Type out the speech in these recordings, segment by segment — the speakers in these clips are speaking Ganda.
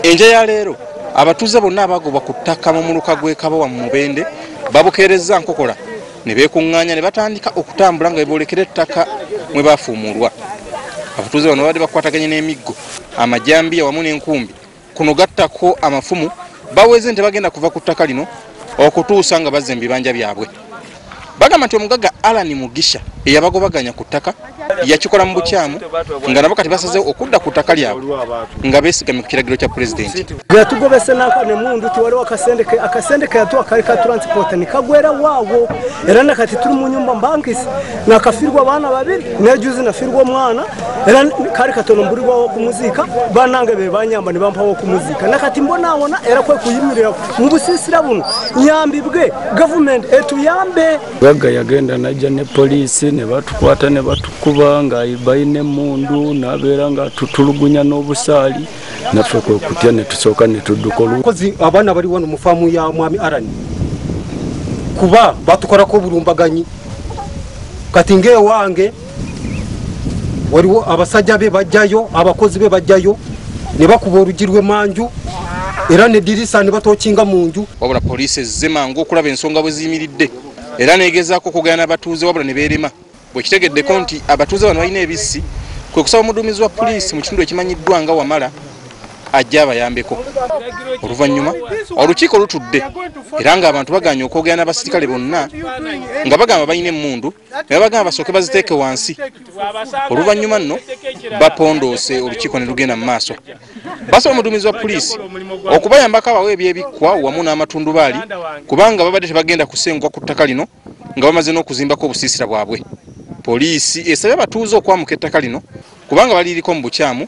enja ya leero abatuuze bonna abagobwa ku ttaka mu muluka gw'ekabowa mu mubende babukeerezza nkokola ne beekuŋŋaanya ne batandika okutambula nga beboolekera ettaka mwe baafuumuulwa abatuuze bano babadde bakwataganye n'emiggo amajambiya wamu n'enkumbi Kuno gattako amafumu baweze nti bagenda kuva ku ttaka lino okutuusa nga bazze mu bibanja byabwe. Bagamba nti omugagga Alan Mugisha eyabagobaganya ku ttaka yakikola mu bukyamu nga nabo kati basazeewo okudda ku ttaka lyabwe nga beesigamye ku kiragiro kya pulezidenti. Yatugobese nako ne mundu ti waliwo akasente ke akasente ke yatuwa kali ka transport ne kagwera waawo era nakati tuli mu nyumba mbankisi nakafirwa abaana babiri nejuzi nafirwa omwana era kali katono mbulibwawo okumuziika banange be banyamba ne bampawo okumuziika nakati mbonaawona era kwe kuyimirira mu busiisira buno nyambi bwe gavumenti etuyambe gagga yagenda najja ne poliisi ne batukwata ne batukuba nga balina emundu nabeera nga tutulugunya n'obusaali naffe kwe kutya ne tusooka ne tudduka olukozi abaana bali wano mu faamu ya mwami arani kuba batukolako obulumbaganyi kati ngaewange waliwo abasajja be bajjayo abakozi be bajjayo ne bakuba olugi lw'emanju era nedirisa ne batokinga mu nju wabula poliisi ezze mangu okulaba ensonga bwe ziyimiridde era negezaako okugana n'abatuuze wabula ne beerema bwekitegeddeko nti abatuuze bano balina ebissi kwe kusaba omuduumizi wa poliisi mu kitundu ekimanyiddwa nga wamala ajja abayambeko oluvannyuma olukiiko lutudde era ng'abantu baganye okwogera n'abasirikale bonna nga bagamba balina emmundu naye bagamba basooke baziteeke wansi oluvannyuma nno bapondoose olukiiko ne lugenda mu maaso basaba omuduumizi wa puliisi okubayambako abawo ebyebikkwa wamu n'amatundubaali kubanga babadde tebagenda kusenguka ku ttaka lino nga bamaze n'okuzimbako obusiisira bwabwe poliisi esabye abatuuze okwamuka ettaka lino kubanga baliriko mu bukyamu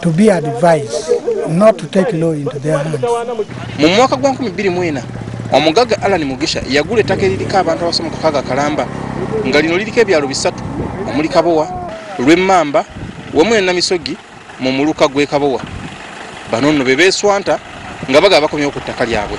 to be advised not to take law into their hands. Mu mwaka gwa 2004 omugagga Alan Mugisha yagula ettaka eririko abantu abasomo kakaaga kalamba nga lino liriko ebyalo bisatu omuli Kabowa, Lwemmamba wamu ne Namisogi mu muluka gw'e Kabowa. Bano nno be beeswanta nga bagala bakomyewo ku ttaka lyabwe.